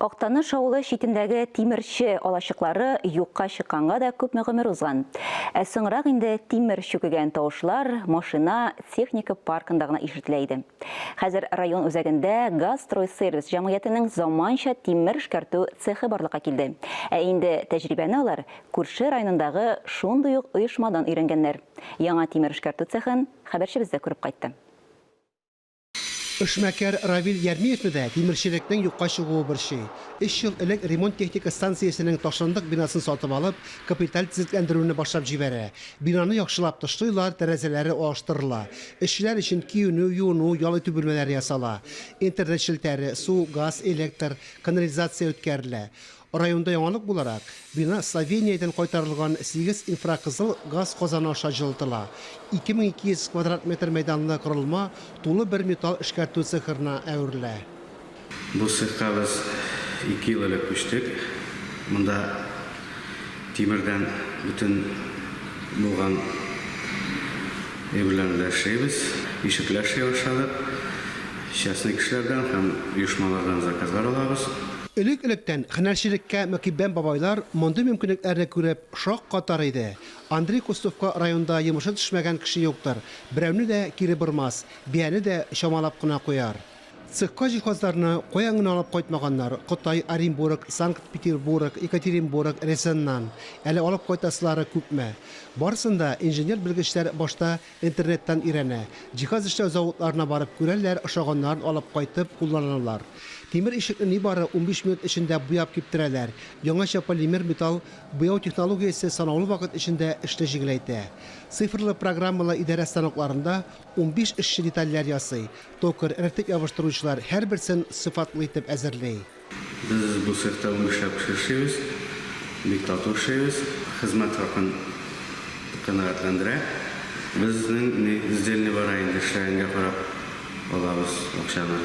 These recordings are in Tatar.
Актаныш авылы читендәге тимерче алачыклары юкка чыкканга да күпме гомер узган. Ә соңрак инде тимер чүкегән тавышлар машина, техника паркында гына ишетелә иде. Хәзер район үзәгендә Газстройсервис җәмгыятенең заманча тимер эшкәртү цехы барлыкка килде. Ә инде тәҗрибәне алар күрше районындагы шундый ук оешмадан өйрәнгәннәр. Яңа тимер эшкәртү цехын хәбәрчебез дә күреп кайтты. Эшмәкәр Равил Ярмиевны да тимерчелекнең юкка чыгуы борчый. Өч ел элек ремонт-техника станциясенең ташландык бинасын сатып алып, капиталь төзекләндерүне башлап җибәрә. Бинаны яхшылап тышлыйлар, тәрәзәләре алыштырыла. Эшчеләр өчен киенү, юыну, ял итү бүлмәләре ясала. Интернет челтәре, су, газ, электр, канализация үткәрелә. Районда яңалык буларак, бина Словениядән кайтарылган сигез инфракызыл газ казаны аша җылытыла. 2200 квадрат метр мәйданлы корылма тулы бер металл эшкәртү цехырына әверелә. Бу цехка без ике ел элек күчтек. Монда тимердән бөтен булган әйберләрне дә эшлибез. Ишекләр эшли башладык. Частный кешеләрдән һәм оешмалардан заказлар алабыз. Элек-электән һөнәрчелеккә мөкиббән бабайлар мондый мөмкинлекләрне күреп шак катар иде. Андрей Кустовка районда йомышы төшмәгән кеше юктыр, берәүне дә кире бормас, бияне дә чамалап кына куяр. Цехка җиһазларны каян гына алып кайтмаганнар, Кытай, Оренбург, Санкт-Петербург, Екатеринбург, Рязаньнан. Әле алып кайтасылары күпме. Барысын да инженер-белгечләр башта Интернеттан өйрәнә. Җиһаз эшләү заводларына барып күрәләр, ошаганнарын алып кайтып, кулланалар. Тимер ишекне нибары унбиш минут эчендә буяп киптерәләр. Яңача полимер металл буяу технологиясе санаулы вакыт эчендә эшне җиңеләйтә. Цифрлы программалы идарә станокларында унбиш эшче детальләр ясый, токарь, рәтләп ябыштыручылар һәрберсен сыйфатлы итеп әзерли. Без бу цехта унбишләп кеше эшлибез. Бик тату эшлибез. Хезмәт хакын канәгатьләндерә. Безнең ни сдельный бара инде, эшләгәнгә карап алабыз акчаны.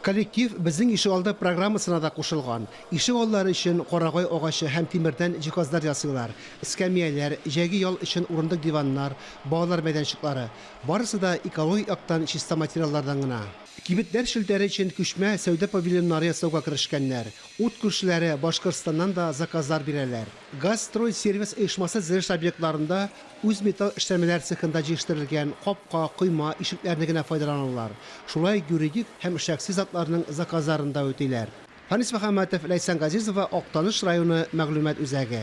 Коллектив Безнең ишегалды программасына да кушылган. Ишегаллары өчен карагай агачы һәм тимердән җиһазлар ясыйлар, эскәмияләр, җәйге ял өчен урындык-диваннар, балалар мәйданчыклары. Барысы да экологик яктан чиста материаллардан гына. Кибетләр челтәре өчен күчмә сәүдә павильоннары ясауга керешкәннәр. Ут күршеләре Башкортстаннан да заказлар бирәләр. Газстройсервис оешмасы зелеш объектларында үз металл эшләнмәләр цехында җиештерелгән капка, койма, ишекләрне генә файдаланалар. Шулай юридик һәм шәхси затларның заказларын да үтиләр. Фанис Мөхәммәтов, Ләйсән Газизова, Актаныш районы мәгълүмат үзәге.